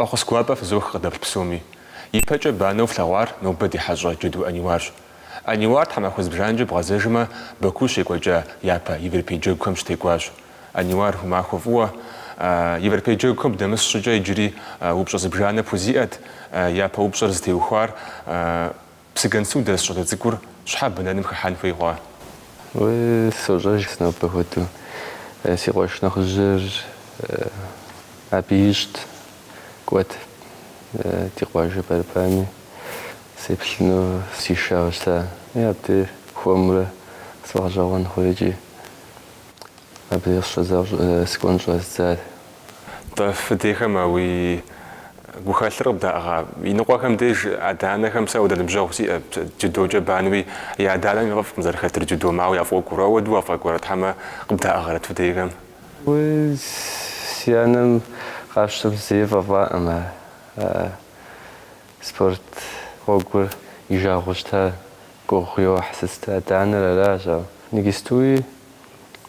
Фӏэхъус гуапэ фызох къыдэплъ псоми. Ипэкӏэ банэу флъэгъуар нобэ ди хьэщӏэ Джэду Ӏэниуарщ. Ӏэниуар тхьэмахуэ зыбжанэкӏэ бгъэзэжмэ, Баку щекӏуэкӏа япэ Европей джэгухэм щытекӏуащ. Ӏэниуар, уи махуэ фӏыуэ Европей джэгухэм дынэмыс щӏыкӏэ иджыри упщӏэ зыбжанэ пхузиӏэт, япэ упщӏэр зытеухуар Псыгуэнсу дэс щӏалэ цӏыкӏур щхьэ бэнэным хыхьэн хуей хъуа? Уэ сощӏэж сэ нобэ хуэдэу. Си къуэш нэхъыжьыр абы ищӏт, кӏуэт ди къуажэ борьбам и, сеплъыну сишауэ щыта. И абдей хуэмурэ сфӏэгъэщӏэгъуэн хъури икӏи. Абдей къыщыщӏэдзауэ сыкӏуэн щӏэздзар Нтӏэ фи дейхэм а уи гухэлъыр къыбдаӏыгъа? Иныкъуэхэм деж адэ-анэхэм сэ апхуэдэ ныбжьэгъу сиӏэ, дзюдокӏэ банэу и, я адэ-анэм яфӏэфӏкъым зэрыхэтыр дзюдом, ауэ яфӏокӏуэр. Апхуэдэу уафӏэкӏуэрэт хьэмэ къыбдаӏыгъырэт фи дейхэм? Уи си анэм къапщтэм зэи фӏэфӏакъым а спорт гъуэгур и жагъуэу щыта. Гугъу йохь сыт адэ-анэр аращ, ауэ иджыпстуи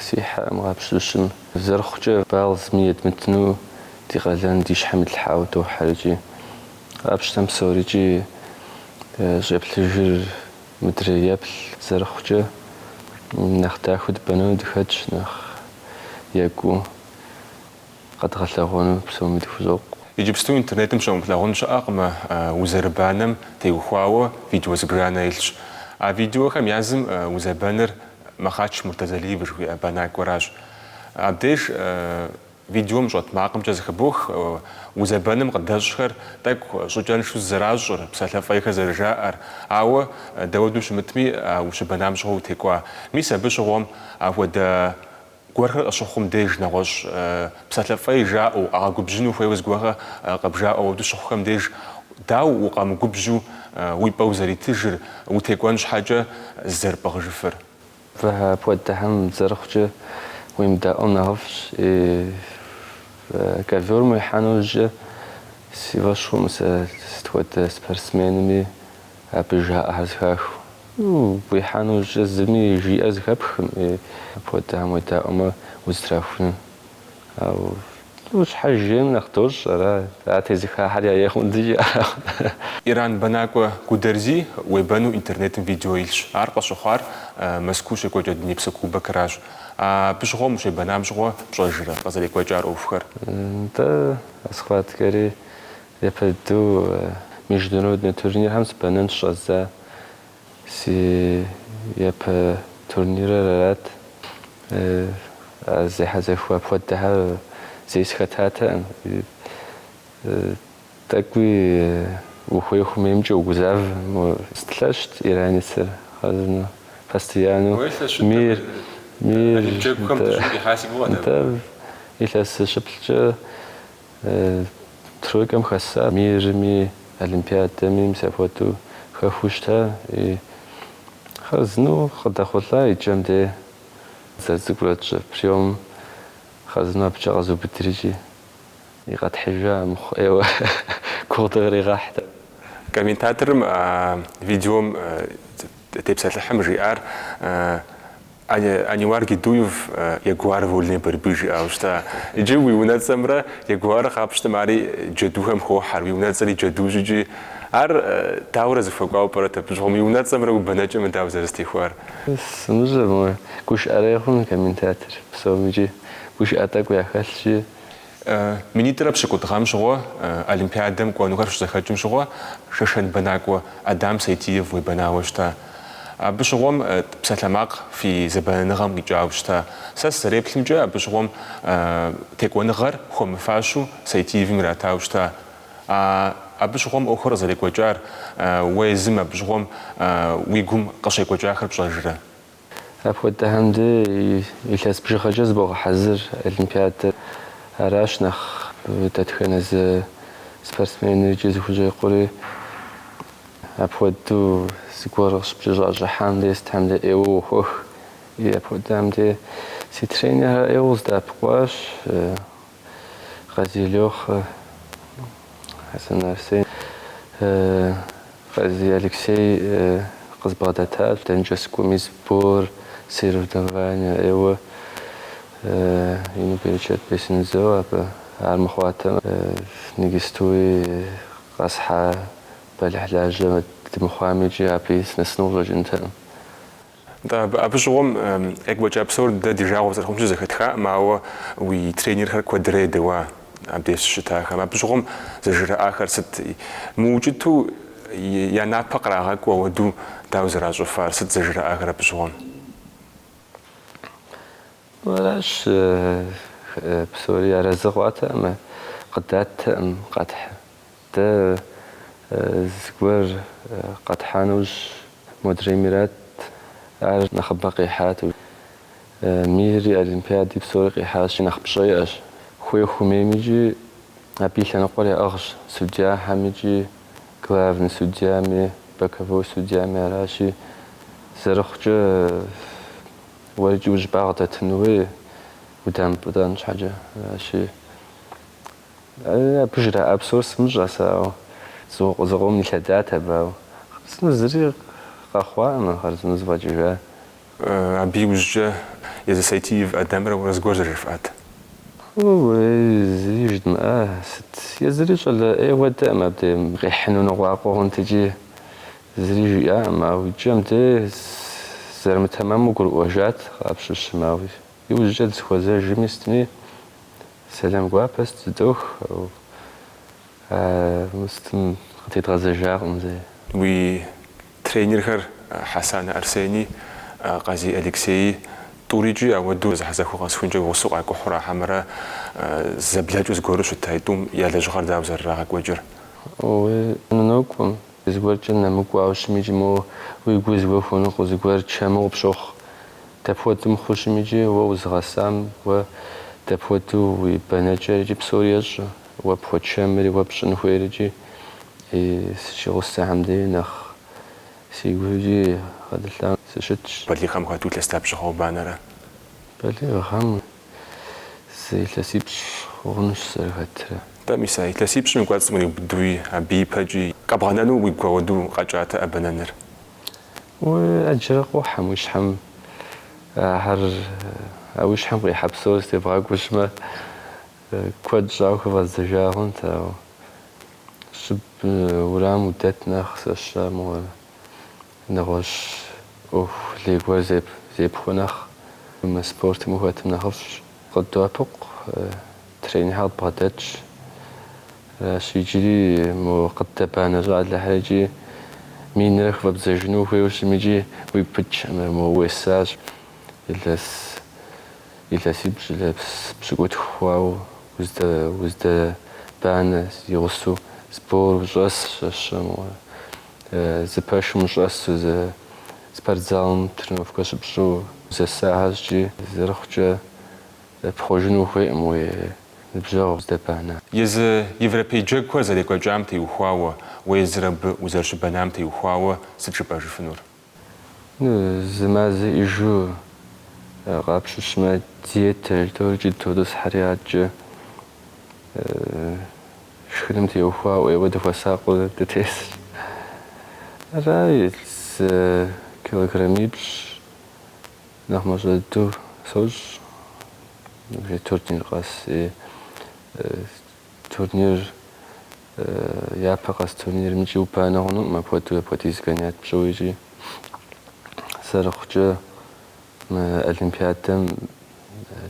Си хьэӏэм къапщыщым, зэрыхъукӏэ, балл зыми едмытыну ди къалэн ди щхьэм итлъхьауэ дохьэ икӏи. Къапщтэм псори икӏи щӏеплъыжыр мыдрей еплъ, зэрыхъукӏэ, нэхъ дахэу дыбэнэну дыхэтщ, нэхъ екӏуу. къэдгъэлъэгъуэну псоми дыхузокъу. Иджыпсту интернетым щумылъагъун щыӏэкъым узэрыбанэм теухуауэ видео зыбжанэ илъщ. А видеохэм я зым узэбэныр Махъач Муртазалиев жыхуиӏэ бэнакӏуэращ. Абдеж видеом щӏэт макъымкӏэ зэхыбох узэбэным къыдэщӏхэр тӏэкӏу щӏыкӏэншэу зызэращӏыр, псалъэ фӏейхэр зэрыжаӏэр. Ауэ дауэдэу щымытми, а ущыбэнам щыгъуэ утекӏуа. Мис абы щыгъуэм апхуэдэ Гуэрхэр къыщыхъум деж нэгъуэщӏ псалъэ фӏей жаӏэу, укъагъэгубжьыну хуейуэ зыгуэрхэр къыбжаӏэу апхуэдэу щыхъухэм деж дауэ укъэмыгубжьу уи пӏэ узэритыжыр, утекӏуэн щхьэкӏэ зызэрыпӏыгъыжыфыр? Уэлэхьэ апхуэдэхэм зэрыхъукӏэ уемыдаӏуэм нэхъыфӏщ. Ковёрым уихьа нэужькӏэ си фӏэщ хъуӏым сэ сыт хуэдэ спортсменми. Абы жаӏэхэр зэхахыу. Уихьа нэужькӏэ зыми жиӏэ зэхэпхӏым, апхуэдэхэм уедаӏуэмэ узэтрахуну. Ауэ щхьэж ейм нэхъ дощӏ ара, ар тезыхахьэри а ехъумэ дыджи аракъым. Иран бэнакӏуэ Гударзи уебэну интернетым видео илъщ. Ар къыщыхъуар Мэзкуу щекӏуэкӏа Дунейпсо кубокыращ. Абы щыгъуэм ущебэнам щыгъуэ пщӏэжрэ къызэрекӏуэкӏар ӏуэхухэр? Нтӏэ, а схваткэри. Япэ дыдэу международнэ турнирхэм сыбэнэн щыщӏэздза си япэ турнирыр арат. Зехьэзэхуэ апхуэдэхэр зэи сыхэтатэкъым. Тӏэкӏуи ухуей хъумэ, имкӏэ угузавэ. Сыт, лъэщт иранецыр хъарзынэу, постояннэу мирым илъэс щыплӏкӏэ. Тройкэм хэса мирми, олимпиадэми мис апхуэдэу хэхуэу щыта. Хъарзынэу къыдэхъулӏа и кӏэм де зэрыцӏыкӏурэ тщӏы приём хъарзынэу абыкӏэ къэзубыдри икӏи, и къэтхьыжа, армыхъу ӏейуэ гугъу дыкъригъэхьат. Комментаторым а видеом тепсэлъыхьым жиӏар. Аниуар Гедуев Ягуар вольной борьбы жиӏауэ щыта. Иджы уи унэцӏэмрэ Ягуар къапщтэмэ ари джэдухэм хохьэр, уи унэцӏэри джэдущ икӏи. Ар дауэрэ зэхуэкӏуауэ пӏэрэ тӏэ абы щыгъуэм уи унэцӏэмрэ уи бэнэкӏэмрэ дауэ зэрызэтехуар? Сымыщӏэ, гушыӏэрей хъун комментатор псом икӏи гушыӏэ тӏэкӏу яхэлъщи. Минитӏрэ пщыкӏутӏ гъэм щыгъуэ Олимпиадэм кӏуэнухэр щызэхэкӏым щыгъуэ Шэшэн бэнакӏуэ Адам Сайтиев уебэнауэ щыта. Абы щыгъуэм псалъэмакъ фи зэбэнэныгъэм къикӏауэ щыта. Сэ сызэреплъымкӏэ, абы щыгъуэм текӏуэныгъэр хуэмыфащэу Сайтиевым иратауэ щыта. А абы щыгъуэм ӏуэхур къызэрекӏуэкӏар уэ езым абы щыгъуэм уи гум къыщекӏуэкӏахэр пщӏэжрэ? Апхуэдэхэм дей илъэс бжыгъэкӏэ зыбогъэхьэзыр олимпиадэр аращ нэхъ дэтхэнэ зы спортсменри икӏи зыхущӏекъури. Апхуэдэу зыгуэр къыщыпкӏэщӏащӏыхьам дей сытхэм дей ӏейуэ уохуэх. Апхуэдэхэм дей си тренерхэр ӏейуэ къыздэӏэпыкъуащ. Къазий Лёхэ, Хьэсэн Арсен, Къазий Алексей къызбгъэдэтащ. Дэнэкӏэ сыкӏуэми сбор, соревнование ӏейуэ ину берычэт бесын жызоӏэ абы. Ар мыхъуатэм, иджыстуи къэсхьа бэлыхьлажьэ дымыхъуам икӏи абыи сынэсыну къыщӏэкӏынтэкъым. Нтӏэ, абы щыгъуэм екӏуэкӏа псор дэ ди жагъуэ зэрыхъунщи зэхэтхакъым, ауэ уи тренерхэр куэдрэ едэуа абдеж щыщытахэм. Абы щыгъуэм зэжраӏахэр сыт? Мыукӏытэу я напэ кърагъэкӏуэ ауэду дауэ зэращӏыфар? Сыт зэжраӏахэр абы щыгъуэм? Аращ, псори арэзы хъуатэкъым, къыдаттэкъым, къэтхьэ. Дэ зыгуэр къэтхьынущ, модрейм ират, ар нэхъыбэ къихьат. Мири, олимпиади псори къихьащи, нэхъ пщӏэ иӏэщ. Хуей хумейм икӏи абы и лъэныкъуэр яӏыгъщ судьяхэм икӏи главный судьями, боковой судьями аращи, зэрыхъукӏэ уэ икӏи уи щӏыбагъ дэтын хуей удамыпӏытӏэн щхьэкӏэ. Аращи, Абы жраӏа псор сымыщӏэ сэ, ауэ зыкъом илъэдат абы, ауэ хъарзынэу зыри къэхъуакъым, а хъарзынэу зэфӏэкӏыжащ. Абы иужькӏэ езы Сайтиев Адамрэ уэрэ зыгуэр зэрыжыфӏат. Зыри жыдмыӏэ сыт, езыри щӏалэ ӏей хуэдэкъым, абдей къихьыну ныкъуакъуэ хъунт икӏи, зыри жиӏакъым, ауэ икӏэм дей зэрымытэмэму гурыӏуэжат къэбжыжым, ауэ Иужькӏэ дысхуэзэжми, сытми сэлам гуапэ сыт зэдох, ауэ сытым къытедгъэзэжакъым зэи. Уи тренерхэр Хьэсанэ Арсени, Къазий Алексеи, тӏури икӏи апхуэдэу зэхьэзэхуэ къэсыхункӏэ уи гъусэу къакӏухьу ара хьэмэрэ зэблэкӏыу зыгуэру щыт? А тӏум я лэжьыгъэр дауэ зэрырагъэкӏуэкӏыр? Уи гур нокӏуэм, зыгуэркӏэ нэмыкӏуауэ щытми икӏи моуэ уи гур зыгуэр хуэныкъуэу, зыгуэр чэму къыпщохъу. Дапхуэдэу мыхъужми икӏи уэ узыгъэсам, уэ дапхуэдэу уи бэнэкӏэр икӏи псори ещӏэ, уэ пхуэчэмри уэ пщӏын хуейр икӏи и сыщигъусэхэм дей нэхъ си гур икӏи гъэтӏылъауэ сыщытщ. Балигъхэм хэту илъэс лъапщӏыгъэ убанэрэ? Балигъхэм зы илъэсипщӏ хъунущ зэрыхэтрэ. Нтӏэ, мис а илъэсипщӏым и кӏуэцӏым къриубыдэуи, абы ипэкӏи, къэбгъэнэну уигу апхуэдэу къэкӏат а бэнэныр? Уэ ӏэджэрэ къохьэ мы уи щхьэм, ахэр, а уи щхьэм къихьэ псори зытебгъэкӏуэжмэ, куэд щӏауэ хыфӏэздзэжа хъунт, ауэ щӏыб уэрамым удэт нэхъ сщӏэ мыгъуэрэ, нэгъуэщӏ ӏуэху лей гуэр зепхуэ нэхъ. Мы спортым ухэтым нэхъыфӏщ, къыддоӏэпыкъу, тренерхэр къыдбгъэдэтщ. Аращ иджыри мо къыддэбанэ щӏалэхэр икӏи минрэ хыфӏэбдзэжыну ухуейуэ щытми икӏи уигу пыкӏкъым, мо уесащ илъэс илъэсипщӏ, илъэс пщыкӏутху хъуауэ уздэбанэ зи гъусэу сбор ущӏэс щэщым, зы пэшым ущӏэсу, зы спортзалым тренировкэ щыпщӏу узэсахэращ икӏи зэрыхъукӏэ. Пхъуэжыну хуейкъым уи ныбжьэгъу здэбана. Езы европей джэгухэр зэрекӏуэкӏам теухуауэ уэ езыр абы узэрыщыбэнам теухуауэ сыт жыпӏэжыфынур? Ну, зы мазэ иӏэжу къапщыщмэ, диетэ эльторыкӏи дытотӏысхьэри адэкӏэ шхыным теухуауэ ӏейуэ дыхуэсакъыу дытесырт. Арай, зы килограммипщӏ Нэхъ мащӏэ дыдэу сощӏ ныбжьей турнир къэс. Турнир, япэ къэс турнирым икӏи убанэ хъунукъым апхуэдэу, апхуэдиз гонять пщӏыуэ икӏи. Зэрыхъукӏэ, мы олимпиадэм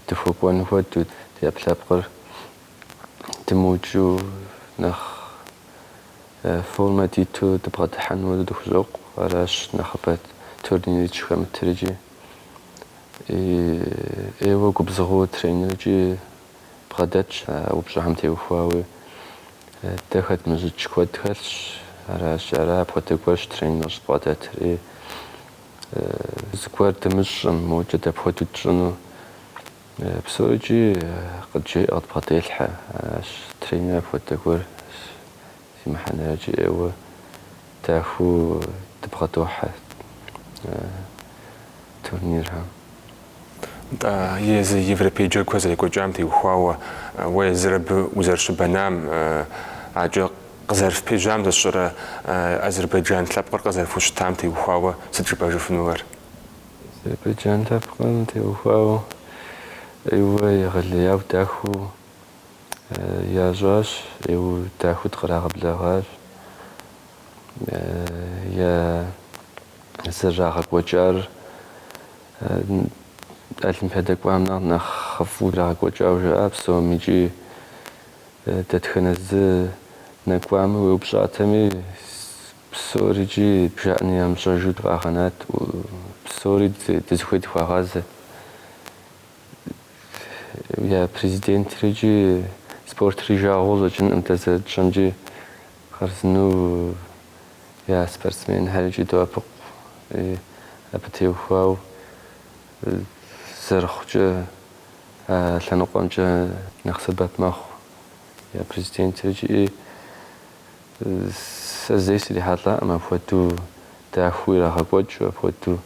дыхуэкӏуэн хуэдэу, ди ӏэпкълъэпкъыр дымыукӏыу нэхъ. Формэ диту дыбгъэдыхьэну дыхущӏокъу, аращ нэхъыбэ турнир дыщӏыхэмытыр икӏи ӏейуэ губзыгъэу тренеркӏи бгъэдэтщ а упщӏэхэм теухуауи. Дэ хэдмыщӏыкӏ куэд хэлъщ, аращи, ара апхуэдэ гуэрщ тренер щӏыбгъэдэтыр. Зыгуэр дымыщӏэм, мокӏэ дапхуэдэу тщӏыну? Псори икӏи къыджеӏэ, къыдбгъэделъхьэ, аращ тренер апхуэдэ гуэр зи мыхьэнэр икӏи ӏейуэ дахэу дыбгъэдохьэ турнирхэм. Нтӏэ, езы европей джэгухэр зэрекӏуэкӏам теухуауэ уэ езыр абы узэрыщыбэнам, адэкӏэ къызэрыфпежьам зыщӏырэ азербайджан лъэпкъыр къызэрыфхущытам теухуауэ сыт жыпӏэжыфынур? Азербайджан лъэпкъым теухуауэ ӏейуэ егъэлеяу дахэу ящӏащ, ӏейуэ дахэу дыкърагъэблэгъащ. Я зэрырагъэкӏуэкӏар олимпиадэ кӏуам нэхъ нэхъыфӏу ирагъэкӏуэкӏауэ жаӏэ псом икӏи дэтхэнэ зы нэкӏуами уеупщӏатэми, Псори икӏи бжаӏэни ямыщӏэжу дыкъагъэнат, псори дызыхуей дыхуагъазэ. Я Президентри икӏи спортыр и жагъуэу щӏэкӏынкъым, дэ зэрытщӏэмкӏи хъарзынэу я спортсменхэр икӏи доӏэпыкъу абы теухуауэ зэрыхъукӏэ а лъэныкъуэмкӏэ нэхъ сэбэп мэхъу я Президентри икӏи. Сэ зэи срихьэлӏакъым апхуэдэу дахэу ирагъэкӏуэкӏыу, апхуэдэу,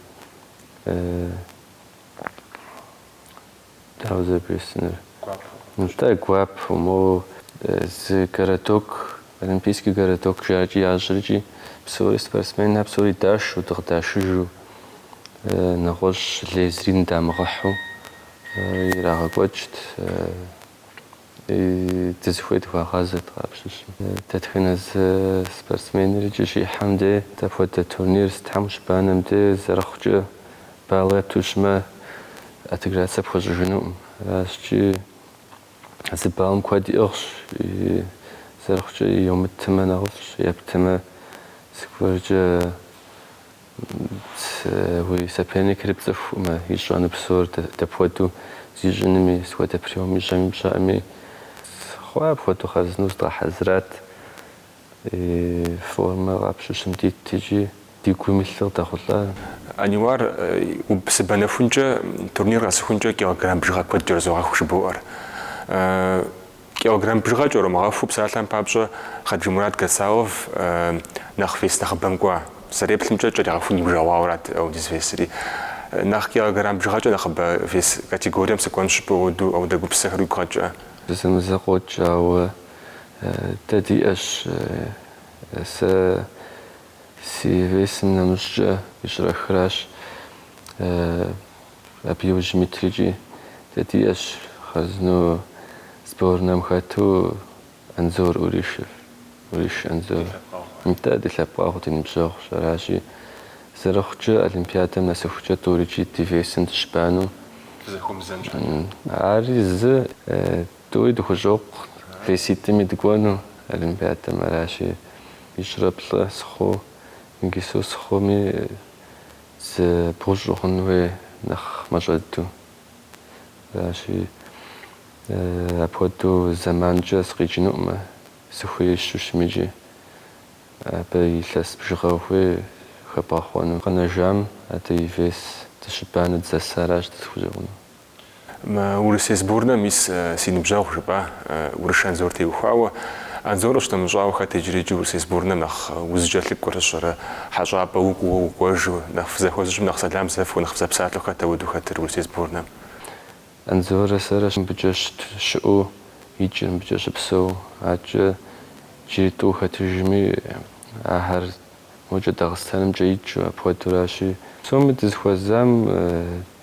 дауэ зэрыбжесӏэнур, нтӏэ, гуапэу, моуэ зы городок, олимпийский городок жаӏэркӏи ящӏэркӏи, псори спортсменхэр псори дашэу, дыкъыдашыжу, нэгъуэщӏ лей зыри ныдамыгъыхьу ирагъэкӏуэкӏт. Дызыхуей дыхуагъазэт къапщыщу. Дэтхэнэ зы спортсменрикӏи щихьэм де, дапхуэдэ турнир зытхьэм щыбанэм де зэрыхъукӏэ балл епту щытмэ, отыграться пхуэщӏыжынукъым. Аращкӏи зы баллым куэд иӏыгъщ, зэрыхъукӏэ йомытэмэ нэхъыфӏщ, ептэмэ зыгуэркӏэ. Уи соперникри пцӏыхукъымэ, ищӏэну псор дапхуэдэу зищӏынми, сыт хуэдэ приём ищӏэми пщӏэкъыми. Хъуа, апхуэдэу хъэзынэу зыдгъэхьэзырат, формэ къапщыщым дит икӏи ди гум илъыр къыдэхъулӏа. Аниуар, уэ сыбэнэхункӏэ турнир къэсыхункӏэ килограмм бжыгъэ куэд кӏэрызогъэху жыбоӏэр. Килограмм бжыгъэ кӏэрумыгъэхуу псалъэм папщӏэ Хаджимурат Гацалов нэхъ вес нэхъыбэм кӏуа. Сызэреплъымкӏэ, кӏэригъэхун иужэгъуауэрат апхуэдиз весри. Нэхъ килограмм бжыгъэкӏэ нэхъыбэ вес категорием сыкӏуэн жыпӏэу апхуэдэу апхуэдэ гупсысэхэр уигу къэкӏрэ? Зэзэмызэ къокӏ, ауэ дэ диӏэщ. Сэ си весым нэмыщӏкӏэ ищӏрэ хыращ. Абы иужьым итрикӏи дэ диӏэщ, хъэзыну сборнэм хэту Анзор Урыш, Урыш Анзор. Нтӏэ, ди лъэпкъэгъу, ди ныбжьэгъущ. Аращи, зэрыхъукӏэ, Олимпиадэм нэсыхукӏэ тӏурикӏи ди весым дыщыбану. Ари зы, тӏури дыхущӏокъу веситӏми дыкӏуэну Олимпиадэм. Аращи, ищӏрэ плӏэ сыхъуу, иджыпсту сыхъуми, Зы бгъущӏ ухъун хуей нэхъ мащӏэду. Аращи, апхуэдэу зэманкӏэ сыкъикӏынукъымэ, сыхуейуэ щытмикӏи. Абы илъэс бжыгъэ ухуей хэбгъэхъуэну. Къэнэжам адэ и вес дыщыбанэ дызэсаращ дызыхущӏэкъуну. Мы Урысей сборнэм ис си ныбжьэгъу, жыпӏа Урыш Анзор теухуауэ. Анзор щынэмыщӏауэ хэт иджырикӏи Урысей сборнэм нэхъ узыкӏэлъыкӏуэ щыӏэрэ, хьэщӏапӏэ укӏуэу, укӏуэжу, нэхъ фызэхуэзэу щытмэ нэхъ сэлам зэфхыу, нэхъ фызэпсалъэу хэт апхуэдэу хэтыр Урысей сборнэм? Анзорэ сэрэ мыбыкӏэ щыт щыӏэу, икӏи мыбыкӏэ щыпсэу, адкӏэ иджыри тӏу хэтыжми, ахэр мокӏэ Дагъыстанымкӏэ икӏыу апхуэдуращи, псоми дызэхуэзам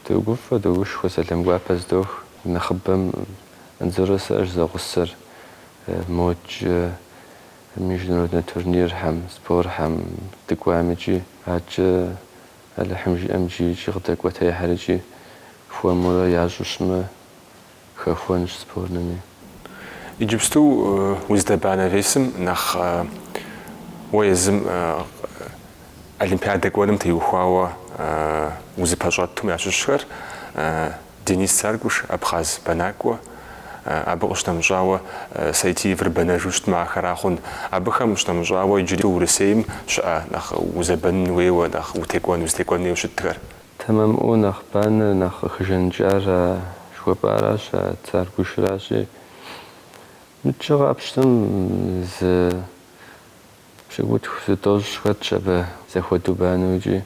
Догуфӏэ, догушхуэ, сэлам гуапэ здох, нэхъыбэм Анзоррэ сэрщ зэгъусэр, модкӏэ, международнэ турнирхэм, спорхэм дыкӏуам икӏи, адкӏэ, Алыхьым жиӏэм, джи икӏи къыдэкӏуэтейхэр икӏи хуэмурэ ящӏу щытмэ, Хэхуэнщ сборнэми. Иджыпсту уздэбанэ весым нэхъ уэ езым Олимпиадэ кӏуэным теухуауэ узыпэщӏэтум ящыщхэр Денис Царгуш, абхъаз бэнакӏуэ, абы къыщынэмыщӏауэ Сайтиевыр бэнэжу щытмэ ахэра хъун, абыхэм къыщынэмыщӏауэ иджыри Урысейм щыӏэ нэхъ узэбэнын хуейуэ, нэхъ утекӏуэн, узытекӏуэн хуейуэ щытхэр. Тэмэмыӏуэу нэхъ банэр, нэхъ къыхэжаныкӏар а жыхуэпӏаращ, а Царгушыращи. Мыдкӏэ къапщтэм зы пщыкӏутху, зы тӏощӏ хэтщ абы зэхуэдэу банэу икӏи.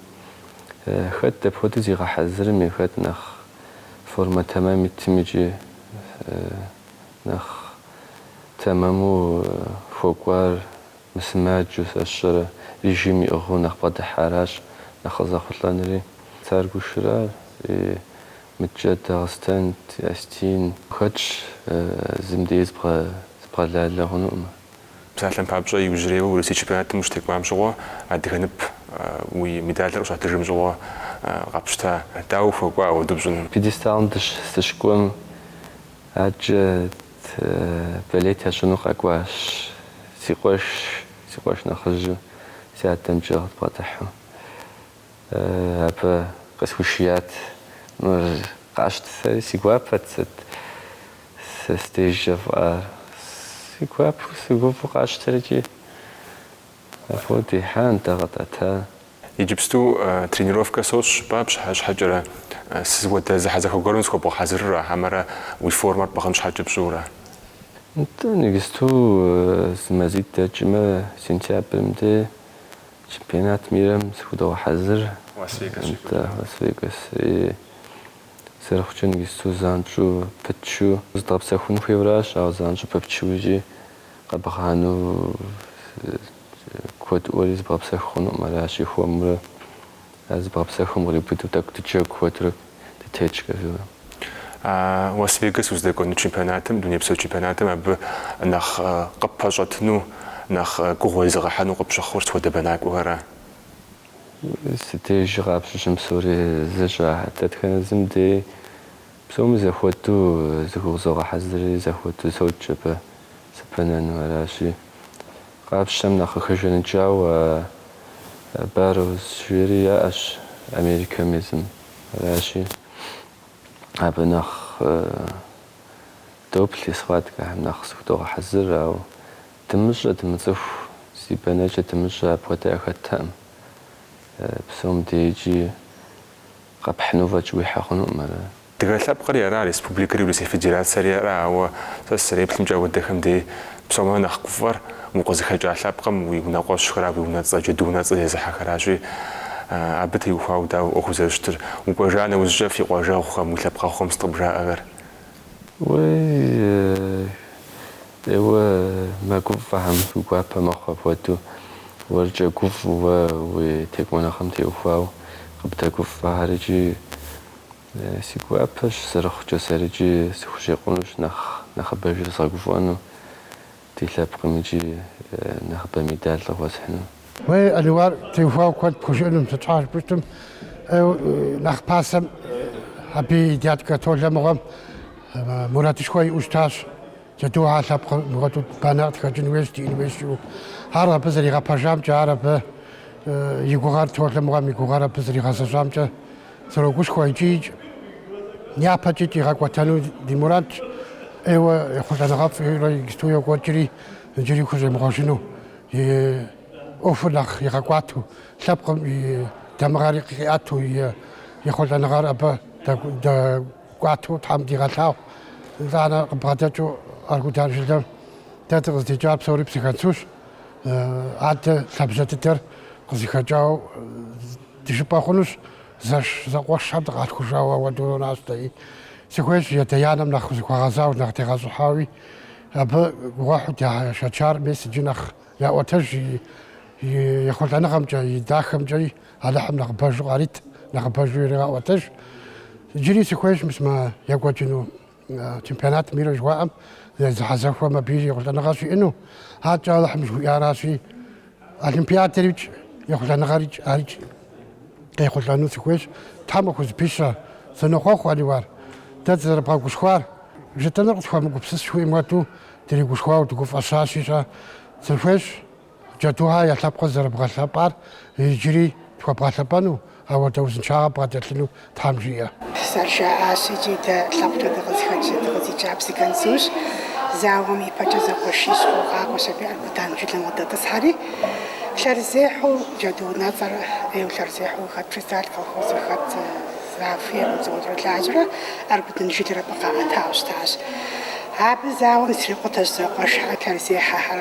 Хэт дапхуэдэу зигъэхьэзырми, хэт нэхъ формэ тэмэм итми икӏи нэхъ тэмэму хуэкӏуар Мысымаджэу, сщӏэрэ, режим иӏыгъыу нэхъ бгъэдыхьаращ нэхъ къызэхъулӏэнри. Царгушыра и мыдкӏэ Дагъыстэн, асетин хэтщ, зым дей зыбгъэлалэ хъунуӏым. Псалъэм папщӏэ, иужьрейуэ Урысей чемпионатым ущытекӏуам щыгъуэ адыгэ нып уи медалыр къыщуатыжым щыгъуэ къэпщта. Дауэ ухуэкӏуа апхуэдэу пщӏыну? Пьедесталым дыщыкӏуэм Адкӏэ болеть ящӏыну къэкӏуащ. Си къуэш, си къуэш нэхъыжьу си адэмкӏэ къыдбгъэдыхьу. Абы къысхуишият. Мыр къащтэ, сэри, си гуапэт сыт сэ сдежкӏэ фӏар. Си гуапэу, сыгуфӏэу къасщтэри икӏи. Абы къыдихьа, нтӏэ къэтӏэта. Иджыпсту тренировкэ сощӏ жыпӏа щхьэкӏэрэ сыт хуэдэ зэхьэзэхуэ гуэрым зыхуэбгъэхьэзырыра, хьэмэрэ уи формэр пӏыгъын щхьэкӏэ пщӏыурэ? Нтӏэ, нэгысту зы мазитӏ дэкӏмэ, сентябрым де чемпионат мирэм зыхудогъэхьэзыр. Лас-Вегас щекӏуэкӏыну. Нтӏэ, Лас-Вегас. И, зэрыхъукӏэ нэгысту занщӏэу пытчу зыдгъэпсэхун хуейуэращ, ауэ занщӏэу пыпчу икӏи къэбгъанэу. Куэдыӏуэри зыбгъэпсэху хъунуӏым, аращи, хуэмурэ ар зыбгъэпсэхум къриубыдэу тӏэкӏу дыджэгу хуэдэурэ дытетщ, кӏэжурэ. А Лас-Вегас уздэкӏуэну чемпионатым, дунейпсо чемпионатым абы нэхъ къыппэщӏэтыну, нэхъ гугъу уезыгъэхьыну къыпщыхъур сыт хуэдэ бэнакӏуэхэра? Си дежкӏэ къапщтэм псори зэщхьщ. Дэтхэнэ зым дей псоми зэхуэдэу зыхузогъэхьэзырри зэхуэдэу сокӏ абы. Сыбэнэну аращи, къапщтэм нэхъ къыхэжаныкӏауэ Барроуз жери яӏэщ Америкэм езым. Аращи, абы нэхъ доплъ и схваткэхэм нэхъ зыхудогъэхьэзыр, ауэ дымыщӏэ, дымыцӏыху, зи бэнэкӏэ дымыщӏэ апхуэдэ яхэттэкъым. Псом дей икӏи къэпхьыну фӏэкӏ уихьэ хъунукъым ара? Дыгэ лъэпкъри ара, республикэри Урысей Федерацэри ара, ауэ сэ сызэреплъымкӏэ ауэдэхэм дей псомэ нэхъ гуфӏэр укъызыхэкӏа лъэпкъым уи унэкъуэщхэращ, уи унэцӏэ, Джэду унэцӏэ зезыхьэхэращи, абы теухуауэ дауэ ӏуэхур зэрыщытыр? Укӏуэжа нэужькӏэ фи къуажэгъухэм, уи лъэпкъэгъухэм сыт къыбжаӏэхэр? ӏейуэ мэгуфӏэхэм уи гуапэ мэхъу апхуэдэу, уэркӏэ гуфӏэу уэ уи текӏуэныгъэм теухуауэ къыбдэгуфӏэхэр икӏи Си гуапэщ зэрыхъукӏэ сэри икӏи сыхущӏекъунущ нэхъ нэхъыбэжыр згъэгуфӏэну ди лъэпкъым икӏи нэхъыбэ медаль къыхуэсхьыну. Уей, Аниуар теухуауэ куэд пхужыӏэнум сыт щхьэ жыпӏэм, нэхъ пасэм абы и дядкэ Толэ мыгъуэм мурадышхуэ иӏэу щытащ. Джэдухэ лъэпкъ мыгъуэту банэ къытхэкӏын хуейщ, диӏэн хуейщу. Ар абы зэригъэпэжамкӏэ, ар абы и гугъэр, Толэ мыгъуэм и гугъэр абы зэригъэзэщӏамкӏэ срогушхуэ икӏи япэкӏикӏ игъэкӏуэтэну ди мурадщ. ӏейуэ ехъулӏэныгъэфӏурэ иджыпсту йокӏуэкӏри, иджыри хущӏемыгъуэжыну, и ӏуэхур нэхъ игъэкӏуату, лъэпкъым и дамыгъэр къиӏэту, и ехъулӏэныгъэр абы Кӏуатэу Тхьэм дигъэлъагъу, итӏанэ къыбгъэдэкӏыу Аргудан жылэм дэ дыкъыздикӏар псори Псыгуэнсущ. Адэ лъабжьэ дыдэр къызыхэкӏауэ дыжыпӏэ хъунущ, зэш зэкъуэшхэм дыкъалъхужауэ ауэдэу нонащ дэи. Сыхуейщ и адэ-анэм нэхъ зыхуэгъэзауэ, нэхъ тегъэщӏыхьауэ, абы гугъуехьу дашэчар мис иджы нэхъ яӏуэтэж и ехъулӏэныгъэмкӏэ, и дахэмкӏэ, Алыхьым нэхъыбэжу къарит, нэхъыбэжу иригъэӏуэтэж. Иджыри сыхуейщ мис мы екӏуэкӏыну чемпионат мира жыхуаӏэм зэхьэзэхуэм абы ехъулӏэныгъэ щиӏэну. Адэкӏэ Алыхьым жыхуиӏаращи, Олимпиадэр икӏ, ехъулӏэныгъэр икӏ, ар икӏ къехъулӏэну сыхуейщ. Тхьэм къыхузэпищэ, сынохъуэхъу Аниуар. Дэ дызэрыбгъэгушхуар, жытӏэнур къысхуэмыгупсыс жыхуиӏэм хуэдэу, дригушхуауэ дыгуфӏэщащи щӏэ, сыхуейщ Джэдухьэ я лъэпкъыр зэрыбгъэлъэпӏар иджыри тхуэбгъэлъэпӏэну, ауэдэ узыншагъэ бгъэдэлъыну Тхьэм жиӏэ. Зэрыжаӏащ икӏи дэ лъэпкъкӏэ дыкъызыхэкӏ, дыкъыздикӏар Псыгуэнсущ. Зауэм и пэкӏэ зэкъуэшищу къакӏуэщ аби Аргудан жылэм къыдэтӏысхьэри. Лъэрызехьэу Джэду унэцӏэр ӏейуэ лъэрызехьэу хэт председатель колхозыр, хэт Зафи Амыдзоуэтрэ лажьэрэ Аргудан жылэр абы къаӏэтауэ щытащ. Абы зауэм зэтрикъутащ зэкъуэш лъэрызехьэхэр.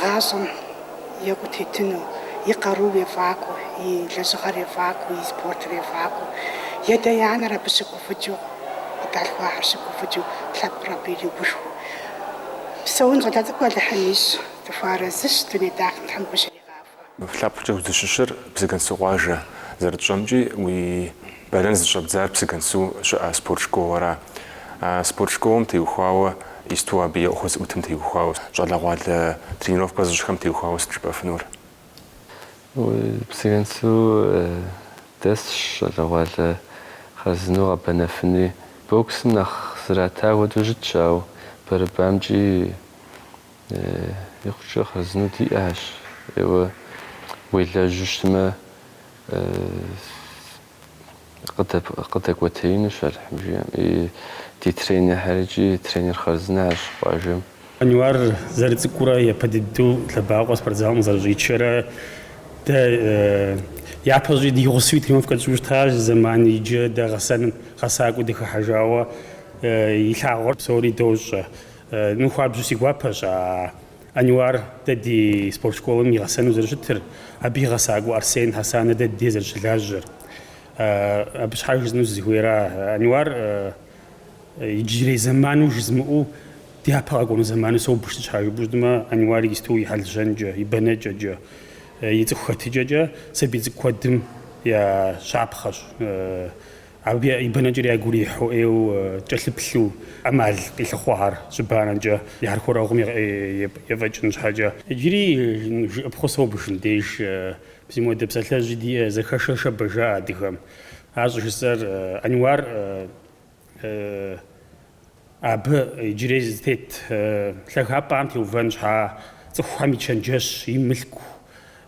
Гъащӏэм екӏуу тетыну, и къарууэ ефӏакӏуэу, и лэжьыгъэр ефӏакӏуэу, и спортыр ефӏакӏуэу, и адэ-и анэр абы щыгуфӏыкӏыу, къыдалъхуахэр щыгуфӏыкӏыу, лъэпкъыр абы иригушхуэу псэун щӏалэ цӏыкӏу Алыхьым ищӏ, дыхуэарэзыщ, дуней дахэм Тхьэм гу щригъахуэ. Лъэпкъкӏэ узыщыщыр Псыгуэнсу къуажэ, зэрытщӏэмкӏи уи бэнэн зыщӏэбдзар Псыгуэнсу щыӏэ спорт школэра. А спорт школэм теухуауэ исту абы и ӏуэху зыӏутым теухуауэ, щӏалэгъуалэ тренировкэ зыщӏхэм теухуауэ сыт жыпӏэфынур? Псыгуэнсу дэсщ щӏалэгъуалэ хъарзынэу къэбэнэфынуи. Боксым нэхъ зрата хуэдэу щытщ, ауэ борьбамкӏи Икъукӏэ хъарзынэу диӏэщ. Еуэ, уелэжьу щытмэ, къыдэкӏуэтеинущ Алыхьым жиӏэм. Ди тренерхэр икӏи тренер хъарзынэщ къуажэм. Ануар зэрыцӏыкӏуурэ япэ дыдэу лъэбакъуэ спортзалым къызэрыщӏичэрэ, дэ япэщӏи ди гъусэуи тренировкэ тщӏу щытащ зы зэман, иджы дэ гъэсэным гъэсакӏуэу дыхыхьэжауэ и лъагъуэр псори дощӏэ. Ну хуабжьу си гуапэщ а Ануар дэ ди спорт школым и гъэсэну зэрыщытыр, абы и гъэсакӏуэ Арсен Хьэсанэ дэ ди зэрыщылажьэр. Абы щхьа жызыӏэну сызыхуейра, Ануар иджырей зэману жызмыӏэу дяпэ къэкӏуэну зэману собж, сыт щхьа жыпӏэу щытмэ, Ануар исту и хьэл-щэнкӏэ, и бэнэкӏэкӏэ, и цӏыху хэтыкӏэкӏэ сабий цӏыкӏу куэдым я щапхъэщ. Абы и бэнэкӏэр ягу ирихьу ӏейуэ кӏэлъыплъу ӏэмал къилъыхъуэхэр щыбанэкӏэ и хьэрхуэрэгъум ефӏэкӏын щхьэкӏэ. Иджыри жыӏыпхъэу собж, мыдеж зы мопхуэдэ псалъэжьи диӏэ зэхэшэ шэбэщ жаӏэ адыгэм. Ар щӏыжысӏэр Ануар. Абы иджырей зытет лъагапӏэм теувэн щхьа цӏыхухэм и чэнджэщ, и мылъку,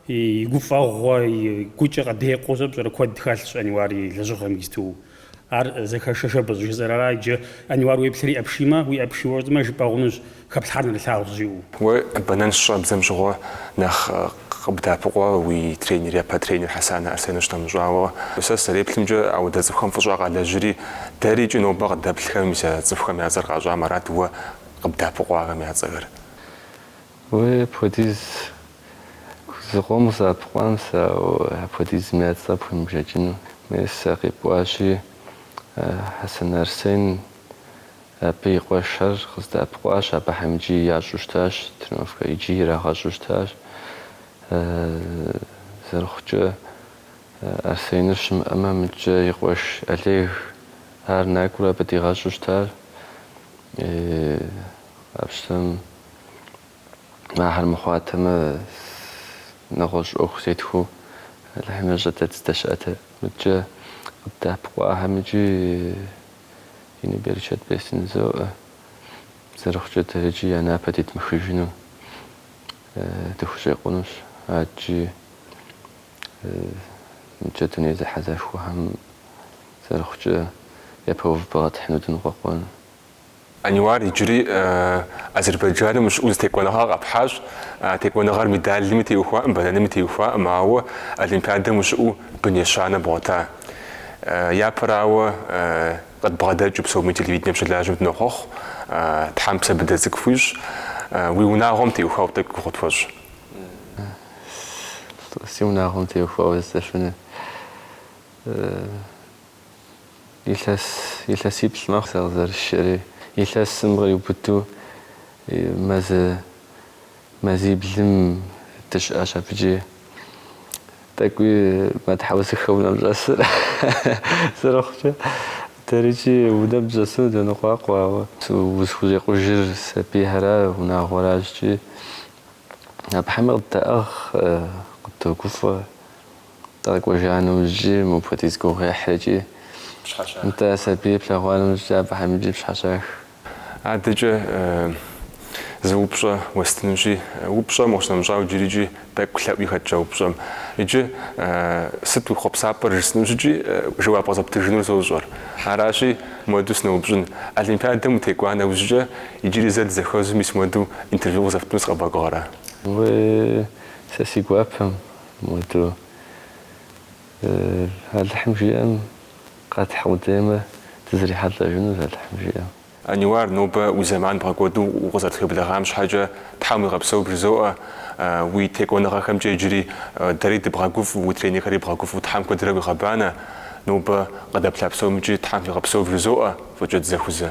и гуфӏэгъуэ, и гукӏэ къыдекъуу щӏэпщӏэрэ куэд хэлъщ Ануар и лэжьыгъэм исту. Ар зэхэшэ шэбэщ щӏыжысӏэр ара иджы, Ануар уеплърэ и ӏэ пшиймэ, уи ӏэ пшийуэ щытмэ, жыпӏэ хъунущ, хэплъхьар нэрылъагъущ, жиӏэу. Уэ бэнэн щыщӏэбдзэм щыгъуэ нэхъ Къыбдэӏэпыкъуа уи тренер, япэ тренер Хьэсанэ Арсен щынэмыщӏауэ. Сэ сызэреплъымкӏэ, ауэдэ цӏыхухэм фӏыщӏэ къалэжьри, дэри икӏи нобэ къыдэплъхэр мис а цӏыхухэм я цӏэр къащӏам арат уэ къыбдэӏэпыкъуахэм я цӏэхэр. Уэ апхуэдиз зыкъом къызэӏэпыкъуам сэ, ауэ апхуэдизым я цӏэ пхуемыбжэкӏыну. Мес а къипӏуащи, Хьэсанэ Арсен Абы и къуэшхэр къыздэӏэпыкъуащ, абыхэм икӏи ящӏу щытащ тренировкэ, икӏи ирагъэщӏу щытащ. Зэрыхъукӏэ, Арсеныр щымыӏэмэ, мыдкӏэ и къуэш Олег ар накӏуэурэ абы дигъэщӏу щытащ. Къапщтэм, ахэр мыхъуатэмэ, нэгъуэщӏ ӏуэху зетхуэу Алыхьым ещӏэ дэ дыздэщыӏэтэр. Мыдкӏэ къыддэӏэпыкъуахэм икӏи. Ину берычэт бесын жызоӏэ, зэрыхъукӏэ дэри икӏи я напэ тетмыхыжыну дыхущӏекъунущ, адкӏи мыдкӏэ дуней зэхьэзэхуэхэм зэрыхъукӏэ япэ увыпӏэ къэтхьыну дыныкъуэкъуэн. Ануар иджыри Азербайджаным ущыӏэу зы текӏуэныгъэ къэпхьащ. А текӏуэныгъэр медалми теухуакъым, бэнэными теухуакъым, ауэ Олимпиадэм ущыӏэу бын ещанэ бгъуэта. Япэрауэ, къыдбгъэдэкӏыу псоми телевиденэм щылажьэм дынохъуэхъу. Тхьэм псэ быдэ цӏыкӏу хуищӏ. Уи унагъуэм теухуауэ тӏэкӏу гугъу тхуэщӏ. Си унагъуэм теухуауэ здэшынэ. Илъэс, илъэсиплӏ мэхъу сэ къызэрысшэри. Илъэсым къриубыду мазэ, мазиблым дыщыӏащ. Абыкӏи тӏэкӏуи мэтхьэусыхэ унэм щӏэсыр зэрыхъукӏэ, дэрыкӏи унэм дыщӏэсыну дэныкъуакъуэ, ауэ узыхущӏекъужыр сабийхьэра, унагъуэращ икӏи. Абыхьэми къыддаӏыгъ, къыддогуфӏэ. Дыкъэкӏуэжа нэужькӏи, мыпхуэдиз гугъуехьыр икӏи нтӏэ сабийр плъэгъуа нэужькӏи, абыхэм икӏи пщхьэщах. Адэкӏэ зы упщӏэ уэстынущи, упщӏэм къыщынэмыщӏауэ иджыри икӏи тӏэкӏу лъэӏуи хэтщ а упщӏэм. Иджы сыт уи хъуэпсапӏэр жысӏэну щыткӏи, жэуап къызэптыжынур сощӏэр. Аращи, муэду сыноупщӏын. Олимпиадэм утекӏуа нэужьыкӏэ, иджыри зэ дызэхэзу мис муэду интервью къызэптыну сыкъэбгъэгугъэрэ? Уей, сэ си гуапэм, Муэду Алыхьым жиӏэм къэтхь къудеймэ, дызэрихьэлӏэжынущ Алыхьым жиӏэм. Ануар, нобэ уи зэман бгъэкӏуэду укъызэрытхуеблэгъам щхьэкӏэ Тхьэм уигъэпсэу бжызоӏэ. Уи текӏуэныгъэхэмкӏэ иджыри дэри дыбгъэгуфӏэу, уи тренерхэри бгъэгуфӏэу Тхьэм куэдрэ уигъэбанэ. Нобэ къыдэплъа псомыкӏи Тхьэм фигъэпсэу вжызоӏэ, фӏыкӏэ дызэхузэ.